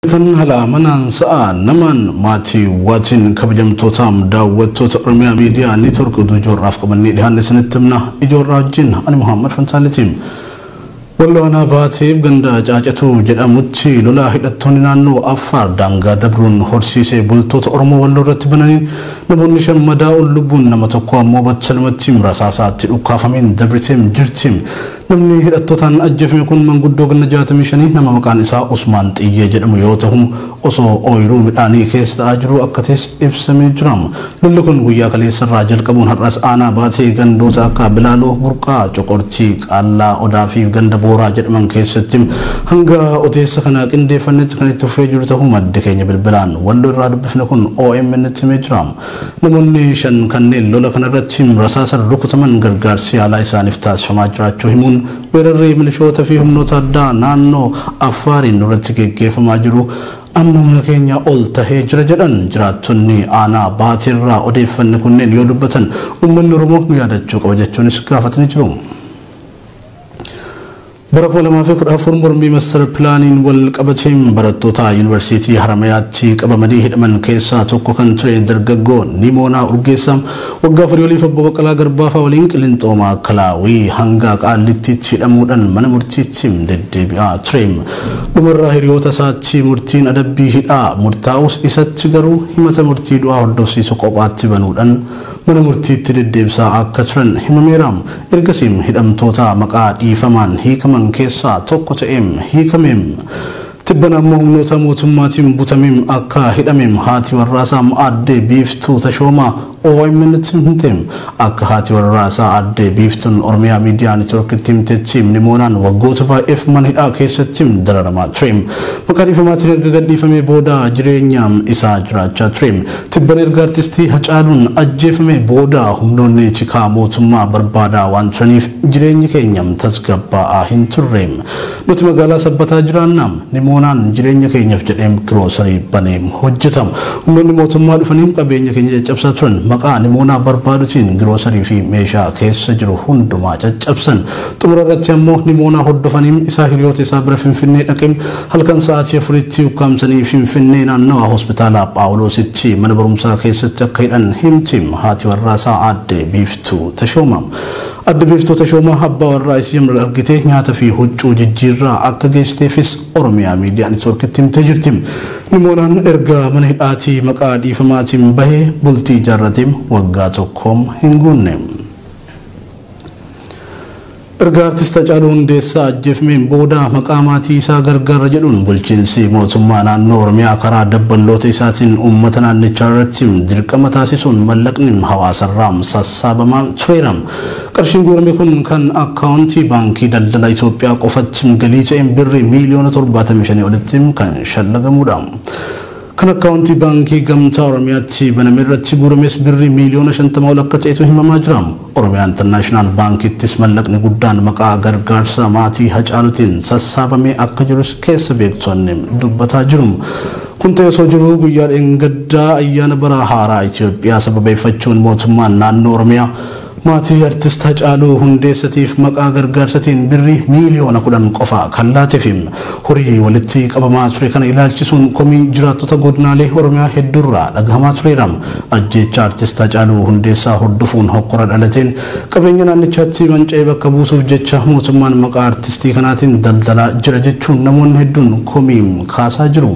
Tan haala amanaan sa'a namaan maatii waatiin kabajamtootaam daawwattoota Oromiyaa Miidiyaa Neetwork oduu ijoorraaf qabannee dhihaanne isinitti himna ijoorraa wajjin ani Muhammad Fantaalitiin. Walloo aanaa baateef ganda caacatuu jedhamutti lolaa hidhattoonni naannoo Affaar daangaa dabruun horsiisee bultoota Oromoo Walloo irratti bananiin namoonni shan madaa'uun lubbuun nama tokko ammoo battalumatti rasaasaatti dhukkaafameen dabriteem jirti. Namni hidhattotaan ajjeefame kun manguddoo ganna jaatamii shanii nama maqaan isaa Usmaan Xiyyee jedhamu yoo tahu, osoo ooyiruu midhaanii keessa ta'aa jiruu akka tahes ibsamee jira. Lolli kun guyyaa kaleessa irraa jalqabuun har'as aanaa Baatee gandoota akka Bilaaloo, Burqaa, Coqortii, Qaallaa Odaa fi ganda Booraa jedhaman keessatti hanga odeessa kana qindeeffannetti kan itti fufee jiru tahuu maddi keenya bilbilaan Wallo irraa dubbifne kun OMN-tti himee jira. Namoonni shan kanneen lola kanarratti rasaasaan rukutaman gargaarsi yaalaa isaaniif taasifamaa jiraachuu himuun, weerarri milishoota fi humnoota addaa naannoo Affaariin nurratti geggeeffamaa jiru amma humna keenyaa ol tahee jira jedhan. Jiraattonni aanaa Baateerraa odeeffanne kunneen yoo dubbatan, uummanni Oromoo nu yaadachuu qaba jechuunis gaafatanii jiru. Bara 2014 mormii Master Pilaaniin wal qabateen barattoota Yuunivarsiitii Haramayaatti qabamanii hidhaman keessaa tokko kan ture dargaggoo Nimoonaa Urgeessaa waggaa afurii oliif Obbo Baqqalaa Garbaafaa waliin Qilinxoo Maakalaawii hanga Qaallittiitti hidhamuudhaan mana murtiitti deddeebi'aa ture. Dhumarra hiriyoota isaatti murtiin adabbii hidhaa murtaa'us isatti garuu himata murtii du'aa hordofsiisu kophaatti banuudhaan mana murtiitti deddeebisaa akka turan himameera. Ergasiim hidhamtoota maqaa dhiifamaan hiikaman keessaa tokko ta'eem hiikameem. Tibbana ammoo humnoota mootummaatiin butameem akka hidhameem haati warraasaam Aadde Biiftuu Tashoomaa OIMNtti himteem. Akka haati warraasaa Aadde Biiftuun Oromiyaa Miidiyaa Network'tti himtettiim Nimoonaan waggoota baay'eef mana hidhaa keessattiim dararamaa tureem. Maqaa dhiifamaatiin erga gadhiifamee booda jireenyaam isaa jiraachaa tureem. Tibban erga Artistii Hacaaluun ajjeefamee booda humnoonni tikaa mootummaa barbaadaa waan turaniif jireenyi keenya tasgabbaa'aa hin turre. Nuti magaalaa Sabbataa jiraanna. Nimoonaan jireenya keenyaf jedhee giroosarii banee hojjeta. Humnoonni mootummaa dhufanii qabeenya keenya caccabsaa turan. Maqaa Nimoonaa barbaadutiin giroosarii fi meeshaa keessa jiru hundumaa caccabsan. Xumura irratti ammoo Nimoonaa hordofanii isaa hiriyoota isaa bira Finfinnee dhaqee Halkan sa'aatii afuritti ukkaamsanii Finfinnee naannawa Hospitaala Phaawuloositti mana barumsaa keessatti akka hidhan himti haati warraasaa Aadde Biiftuu Tashoomaa. Aadde Biiftuu Tashoomaa abbaa warraa isii Yamnar argitee nyaata fi huccuu jijjiirraa akka geessiteefis Oromiyaa Miidiyaa Networkitti himtee jirti. Nimoonaan erga mana hidhaatii maqaa dhiifamaatiin bahe bultii ijaarratee waggaa tokko hin guunne. Erga Artist Hacaaluu Hundeessaa ajjeefmeen booda maqaa maatii isaa gargaarra jedhuun bulchiinsi mootummaa naannoo Oromiyaa karaa dabballoota isaatiin uummata naannichaa irratti dirqama taasisuun mallaqni hawaasarraa sassaabamaa tureera. Qarshiin guurame kun kan akkaawuntii baankii daldala Itoophiyaa qofatti galii ta'een birrii miiliyoona 75 olitti kan shallagamuudha. Kan akkaawuntii Baankii Gamtaa Oromiyaatti baname irratti guurames Birrii miiliyoona 50 ol akka ta'etu himamaa jira. Oromiyaa Internaashinaal Baankiittis mallaqni guddaan maqaa gargaarsa maatii Hacaalutiin sassaabamee akka jirus keessa beektonni dubbataa jiru. Kun ta'ee osoo jiruu guyyaa dheengaddaa ayyaana bara haaraa Itoophiyaa sababeeffachuun mootummaan naannoo Oromiyaa Maatii Artist Hacaaluu Hundeessatiif maqaa gargaarsatiin Birrii miiliyoona 10 qofa kan laatefi horii walitti qabamaa ture kana ilaalchisuun komiin jiraattota godinaalee Oromiyaa hedduurraa dhagahamaa tureera. Ajjeechaa Artist Hacaaluu Hundeessaa hordofuun hokkora dhalateen qabeenya naannichaatti manca'e bakka buusuuf jecha mootummaan maqaa artistii kanaatiin daldalaa jira jechuun namoonni hedduun komii kaasaa jiru.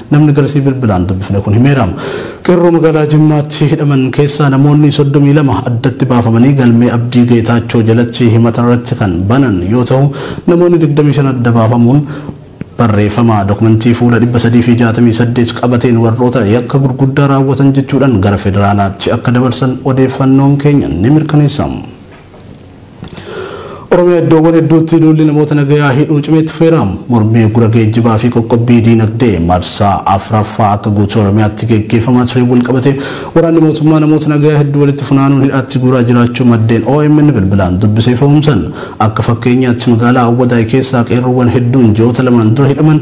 namni garasii bilbilaan dubbifne kun himeera. Qeerroo magaalaa Jimmaatti hidhaman keessaa namoonni 32 addatti baafamanii galmee Abdii Geetaachoo jalatti himata irratti kan banan yoo tahu namoonni 25 adda baafamuun barreeffama dokumentii fuula 368 qabateen warroota yakka gurguddaa raawwatan jechuudhaan gara federaalaatti akka dabarsan odeeffannoon keenya ni mirkaneessa. Oromiyaa iddoowwan hedduutti duulli namoota nagayaa hidhuu cimee itti fufeera. Mormii uggura geejjibaa fi qoqqobbii diinagdee marsaa afraffaa akka guutuu Oromiyaatti geggeeffamaa tureen walqabatee waraanni mootummaa namoota nagayaa hedduu walitti funaanuun hidhaatti guuraa jiraachuu maddeen omn bilbilaan dubbise ifoomsan. Akka fakkeenyaatti magaalaa Awwadaay keessaa qeerroowwan hedduun ji'oota lamaan dura hidhaman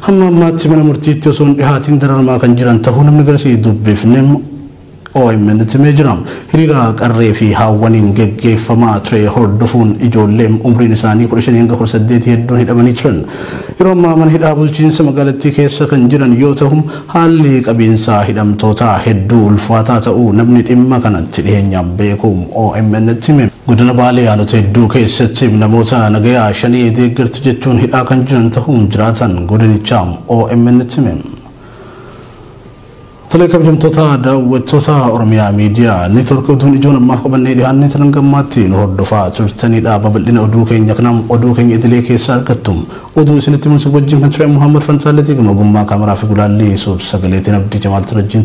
hamma ammaatti mana murtiitti osoo hin dhihaatiin dararamaa kan jiran tahuu namni garasii dubbifne Omn timee jira. Hiriira qarree fi haawwaniin geggeeffamaa ture hordofuun ijoolleem umriin isaanii 15-18 hedduun hidhamanii turan. Yeroo ammaa mana hidhaa bulchiinsa magaalattii keessa kan jiran yoo tahu, haalli qabiinsaa hidhamtootaa hedduu ulfaataa ta'uu namni dhimma kanatti dhiheenyaan beeku OMNtti hime. Godina Baalee aanota hedduu keessatti namoota nagayaa Shanee deeggartu jechuun hidhaa kan jiran tahuu jiraataan godinichaa OMNtti hime. Tolee kabajamtoota daawwattoota Oromiyaa Miidiyaa Neetwork oduun ijoon ammaaf qabannee dhihaannee turan gammaatti nu hordofaa turtanidha. Babal'ina oduu keenya kanaan oduu keenya idilee keessa argattu. Oduu isinitti mul'isuuf wajjin kan ture Muhammad Fantaalleetii gama ogummaa kaameraa fi gulaallii suur sagaleetiin Abdii Jamaaltu wajjin